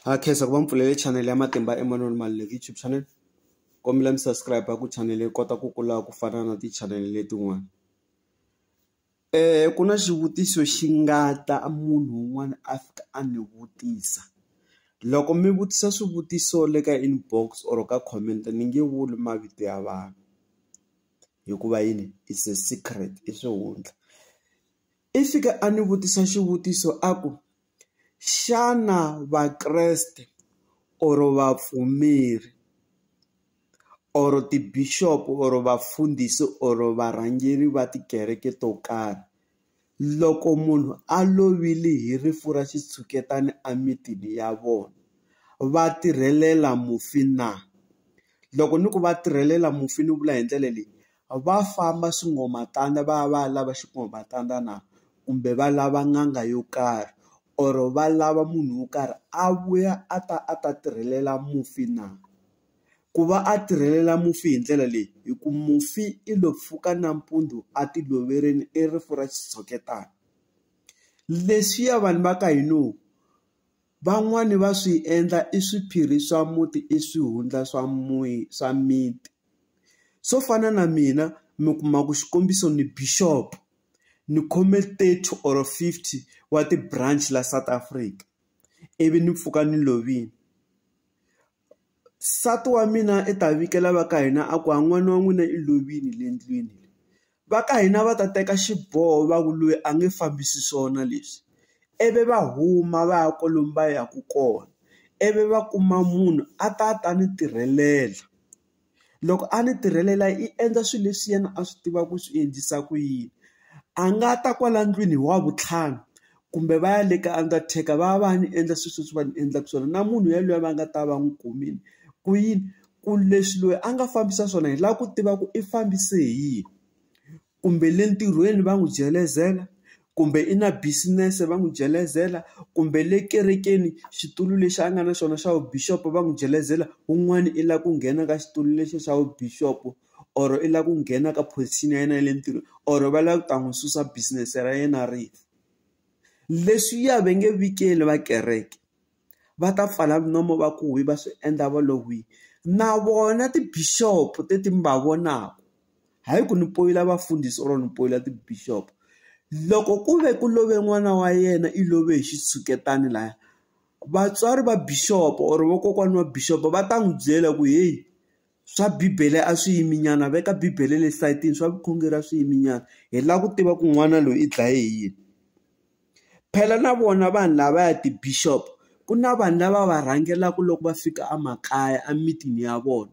Ha khensa ku va mi pfulele channel ya Matimba Emanuel Maluleke YouTube channel kombela mi subscribe ku channel yi kota ku kula ku fana na ti-channel letin'wana ku na xivutiso xi nga ta munhu un'wana a fika a ni vutisa loko mi vutisa swivutiso le ka inbox or ka comment ni nge vuli mavito ya vanhu hikuva yini is a secret i swihundla. I fike a ni vutisa xivutiso a ku, xana Vakreste or vapfumeri or ti-bishop or vafundhisi or varhangeri va tikereke to karhi, loko munhu a lovile hi rifu ra xitshuketana emitini ya vona, va tirhelela mufi na? Loko ni ku va tirhelela mufi ni vula hi ndlela leyi, Va famba swingomatanda va ya va ya lava xingomatanda na kumbe va lava n'anga yo karhi or va lava munhu wo karhi a vuya a ta a ta tirhelela mufi na ku va a tirhelela mufi hi ndlela leyi hi ku mufi i lo pfuka nampundzu a ti loverile i rifu ra xitshuketana leswiya vanhu va ka hina. Van'wani va swi endla i swiphiri swa muti i swihundla swa swa miti swo fana na mina mi kuma ku xikombiso ni bishop ni khome thirty or fifty wa ti-branch la South Africa ivi ni pfuka ni lovile Nsati wa mina i ta vikela va ka hina a ku a n'wana wa n'wina i lovile le ndlwini. Va ka hina va ta teka xiboho va ku loyi a nge fambisi swona leswi, ivi va huma va ya kwalomu va yaka kona. Ivi va kuma munhu a ta a ta ni tirhelela. loko a ni tirhelela i endla swilo leswi yena a swi tivaka ku swi endlisa ku yini. A nga ta kwala ndlwini hi wavuntlhanu, kumbe va ya le ka undertaker va ya va ya ni endla swilo leswi va ni endlaka swona. Na munhu yaloye va nga ta va n'wi kumile. Ku yini? Ku leswi loyi a nga fambisa swona hi lava ku tiva ku i fambise hi yini. kumbe le ntirhweni va n'wi jelezela, kumbe i na business-e va n'wi jelezela, kumbe le kerekeni xitulu lexi a nga na xona xa vu-bishop-o va n'wi jelezela. Un'wana i lava ku nghena ka xitulu lexi xa vu-bishop-o or i lava ku nghena ka position ya yena ya le ntirhweni or va lava ku ta n'wi susa business-e ra yena ri fa. Leswiya va nge vi keli va kereke. va ta pfala nomu va ku hwi va swi endla va lo hwi na vona ti-bishop teti mi va vonaku hayi ku ni poyila vafundhisi or ni poyila ti-bishop loko ku ve ku love n'wana wa yena i love hi xitshuketani laya vatswari va bishop or vokokwana wa bishop va ta n'wi byela ku heyi. swa bibele a swi yimi nyana veka bibele le sayitini swa vukhongeri a swi yimi nyana hi lava ku tiva ku n'wana loyi i dlaye hi yini phela na vona vanhu lavaya ti-bishop ku na vanhu lava va rhangelaka loko va fika a makaya a mitini ya vona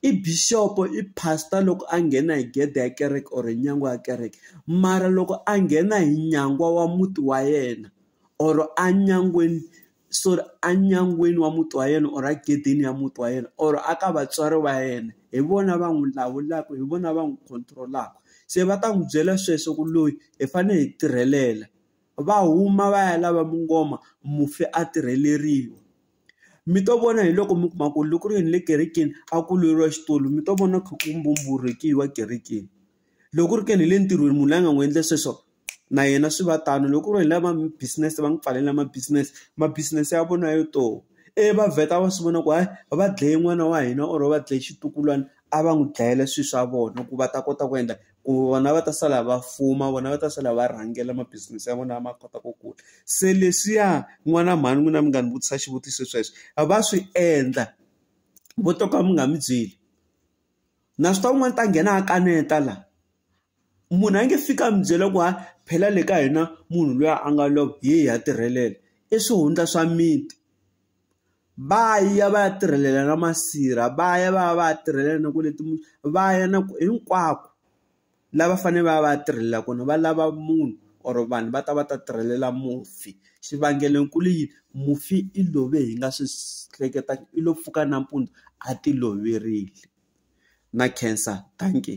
i bishop i pastor loko a nghena hi gede ya kereke or nyangwa ya kereke mara loko a nghena hi nyangwa wa muti wa yena or a nyangweni. so enyangweni wa muti wa yena or egedeni ya muti wa yena or a ka vatswari va yena hi vona va n'wi lawulaka hi vona va n'wi control-aka se va ta n'wi byela sweswo ku loyi hi fanele hi tirhelela va huma va ya lava mungoma mufi a tirheleriwa mi to vona hi loko mi kuma ku loko ku ri yini le kerekeni a ku lweriwa xitori mi to vona kha ku mbumburhekiwa kerekeni. loko ri ke ni hi le ntirhweni munhu la nga n'wi endle sweswo na yena swi va tano loko ku ri hi lava business va n'wi pfalela ma business ma business ya vona yo to e va vheta va swi vona ku hayi va dlaye n'wana wa hina or va dlaye xitukulwana a va n'wi dlayela swilo swa vona ku va ta kota ku endla ku vona va ta sala va fuma vona va ta sala va rhangela ma business ya vona ma kota ku kula se leswiya n'wana mhani n'wina mi nga ni vutisa xivutiso sweswo a va swi endla vo to ka mi nga mi byeli. na swi tiva ku n'wana ta nghena a kaneta la munhu a nge fiki a mi byela ku ha phela le ka hina munhu luya a nga lova hi hi ya tirhelela i swihundla swa miti va ya va ya tirhelela na masirha va ya va ya va ya tirhelela na ku leti va ya na ku hinkwako la va fane va va ya tirhelela kona va lava munhu or vanhu va ta va ta tirhelela mufi xivangelonkulu i yini mufi i love hi nga swi hleketaka i lo pfuka nampundzu a ti loverile na khensa dankie.